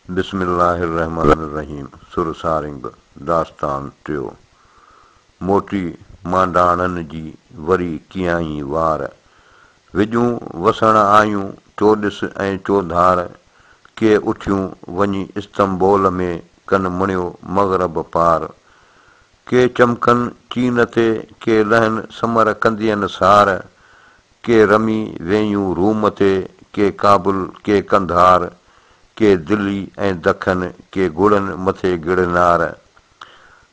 بسم الله الرحمٰن الرحيم سر سارنگ داستان ٽيو موٽي مانڊاڻن جي وري ڪيائين وار وڄون وسڻ آيون چوڏس ۽ چوڌار ڪي اٿيون وڃي استنبول ۾ ڪن مڻيو مغرب پار ڪي چمڪن چين تي ڪي لهن سمر ڪندين سار ڪي رمي وينيون روم تي، ڪي ڪابل، ڪي قنڌار، ڪي دلي ۽ دکن، ڪي گڙن مٿي گڙنار.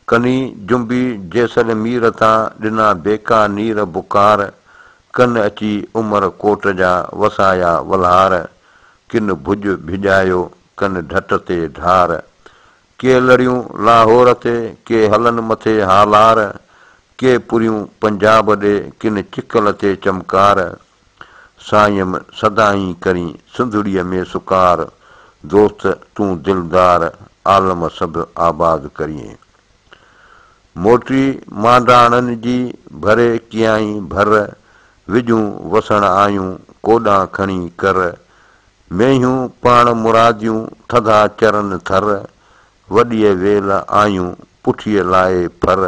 ڪني جنبي جيسلمير تان، ڏنا بيڪا نير بڪار، ڪن اچي عمر ڪوٽ جا، وسايا ولهار. ڪن ڀڄ ڀڄايو، ڪن ڍٽ تي ڍار، ڪي لڙيون لاهور تي، ڪي هلن مٿي هالار، ڪي پريون پنجاب ڏي، ڪن چڪل تي چمڪار، سائيم سدائين ڪرين سنڌڙيء ۾ سڪار، دوست تون دلدار، عالم سڀ آباد ڪرين. موٽي مانڊاڻن جي ڀري ڪيائين ڀر، وڄون وسڻ آيون ڪوڏان کڻي ڪر، مينهيون پاڻ مراديون ٿڌا چرن ٿر، وڏيء ويل آيون پٺيء لائي ڦر،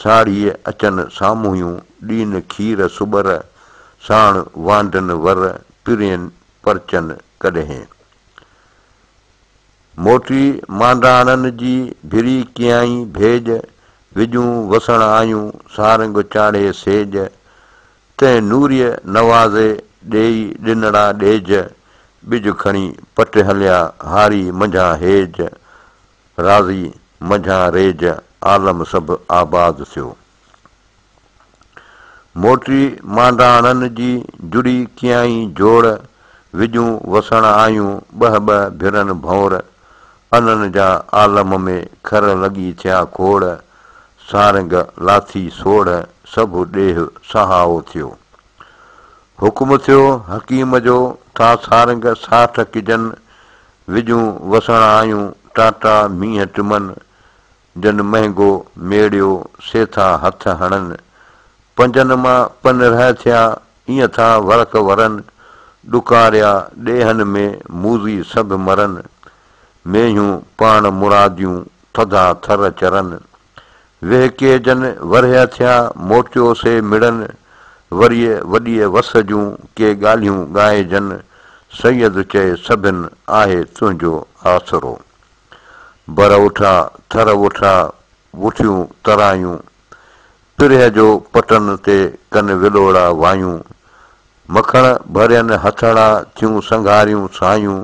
ساڙهيء اچن سامهونيون ڏين کير سٻر، ساڻ وانڍن ور پرين پرچن ڪڏهن. موٽي مانڊاڻن جي ڀري ڪيائين ڀيڄ، وڄون وسڻ آيون سارنگ چاڙهي سيڄ، تنهن نوريء نوازي ڏيئي ڏنڙا ڏيج، ٻج کڻي پٽ هليا هاري منجهان هيج، راضي منجهان ريج عالم سڀ آباد ٿيو. موٽي مانڊاڻن جي جڙي ڪيائين جوڙ، وڄون وسڻ آيون ٻه ٻه ڀرن ڀؤنر، انن جا عالم ۾ کر لڳي ٿيا کوڙ، سارنگ، لاٿي، سوڙهه سڀ ڏيهه سهائو ٿيو. حڪم ٿيو حڪيم جو ٿا سارنگ ساٺ ڪجن، وڄون وسڻ آيون ٽاٽا مينهن ٽمن، جن مهنگو ميڙيو سي ٿا هٿ هڻن، پنجن مان پنرهه ٿيا ايئن ٿا ورق ورن، ڏڪاريا ڏيهن ۾ موذي سڀ مرن، مينهيون پاڻ مراديون ٿڌا ٿر چرن. وهڪي جن ورهيه ٿيا موٽيو سي مڙن. وريء وڏيء وس جون ڪي ڳالهيون ڳائي جن. سيد چئي سڀن آهي تنهنجو آسرو. بر وٺا ٿر وٺا وٺيون ترايون. پرهه جو پٽن تي ڪن ولوڙا وايون. مکڻ ڀرين هٿڙا ٿيون سنگهاريون سايون.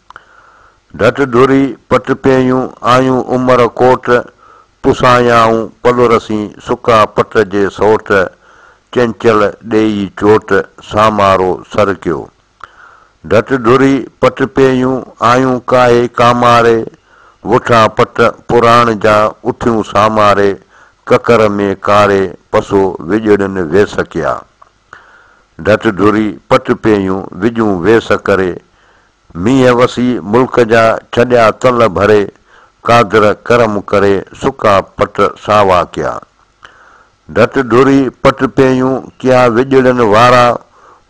ڍٽ ڍوري پٽ پيئيون آيون عمر ڪوٽ، پسايائون پلو رسين سڪا پٽ جي سوٽ، چنچل ڏيئي چوٽ سامارو سر ڪيو. ڍٽ ڍوري پٽ پيئيون آيون ڪاهي ڪاماري، وٺا پٽ پراڻ جا اٿيون ساماري، ڪڪر ۾ ڪاري پسو وڄڙين ويس ڪيا. ڍٽ ڍري پٽ پيئيون وڄون ويس ڪري، مينهن وسي ملڪ جا ڇڏيا تل ڀري، قادر ڪرم ڪري سڪا پٽ ساوا ڪيا. ڍٽ ڍري پٽ پيئيون ڪيا وڄڙين وارا،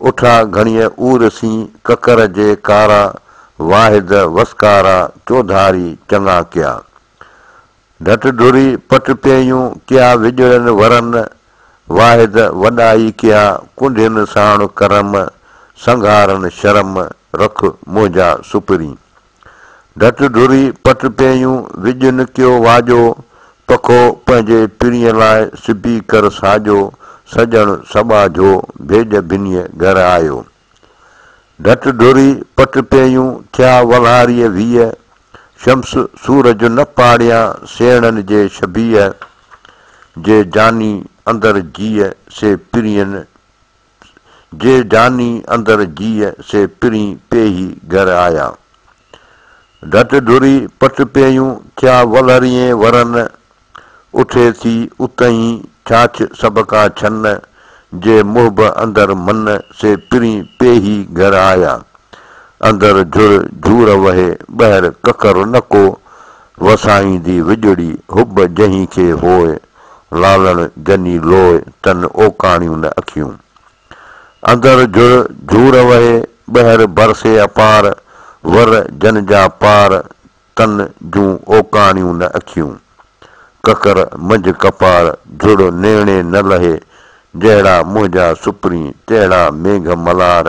اٺا گهڻيء عور سين ڪڪر جي ڪارا، واحد وسڪارا چوڌاري چڱا ڪيا. گهٽ ڍري پٽ پيهيون ڪيا وڄڙن ورن، واحد وڏائي ڪيا ڪنڍين ساڻ ڪرم، سنگهارن شرم رک منهنجا سپرين. گهٽ ڍري پٽ پيهيون وڄن ڪيو واڄو، پکو پنهنجي پرينء لاء سبي ڪر ساڄو، سڄڻ سٻاجهو ڀيڄ ڀنيء گهر آيو. ڍٽ ڍري پٽ پيئيون، ٿيا ولهاريء ويهه. شمس سورج نه پاڙيان، سيڻن جي شبيهه. جي جاني اندر جيء، سي پرين جي جاني اندر جيء، سي پرين پيهي گهر آيا. ڍٽ ڍري پٽ پيئيون، ٿيا ولهريئين ورن. اٿي ٿي اتهين ڇاڇ سڀ ڪا ڇن، جي محب اندر من، سي پرين پيهي گهر آيا. اندر جھر جھور وهي، ٻهر ڪڪر نه ڪو، وسائيندي وڄڙي حب جنهين کي هوء، لالڻ جني لوء، تن اوڪاڻيون نه اکيون. اندر جھر جھور وهي، ٻهر برسي اپار، ور جن جا پار، ڪن جون اوڪاڻيون نه اکيون. ڪڪر منجھ ڪپار جھڙو نيڻي نه لھي، جهڙا منهنجا سپرين تهڙا مينگھ ملار،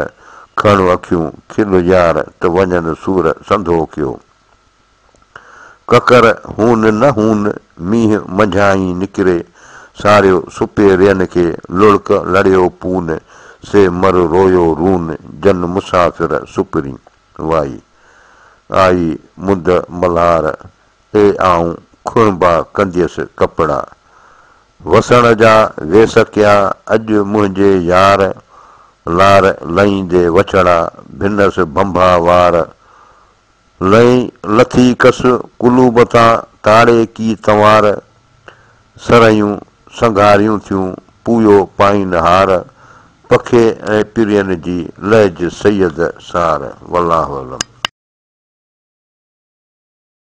کڻ اکيون کل يار ته وڃن سور سنڌو ڪيو. ڪڪر هون نه هون مينهن منجهانئين نڪري، ساريو سپي رين کي لڙڪ لڙيو پون، سي مر رويو رون جن مسافر سپرين. وائي. آئي مند ملهار، اي آئون کڻبا ڪنديس ڪپڙا. وسڻ جا ويس ڪيا، اڄ منهنجي يار لار لئيندي وڇڙا ڀنس ڀنڀا وار. لئين لٿي ڪس قلوب تان تاڙي ڪي تنوار. سرهيون سنگهاريون ٿيون پويو پائينهار پکي ۽ پرين جي لهج سيد سار والله اعلم.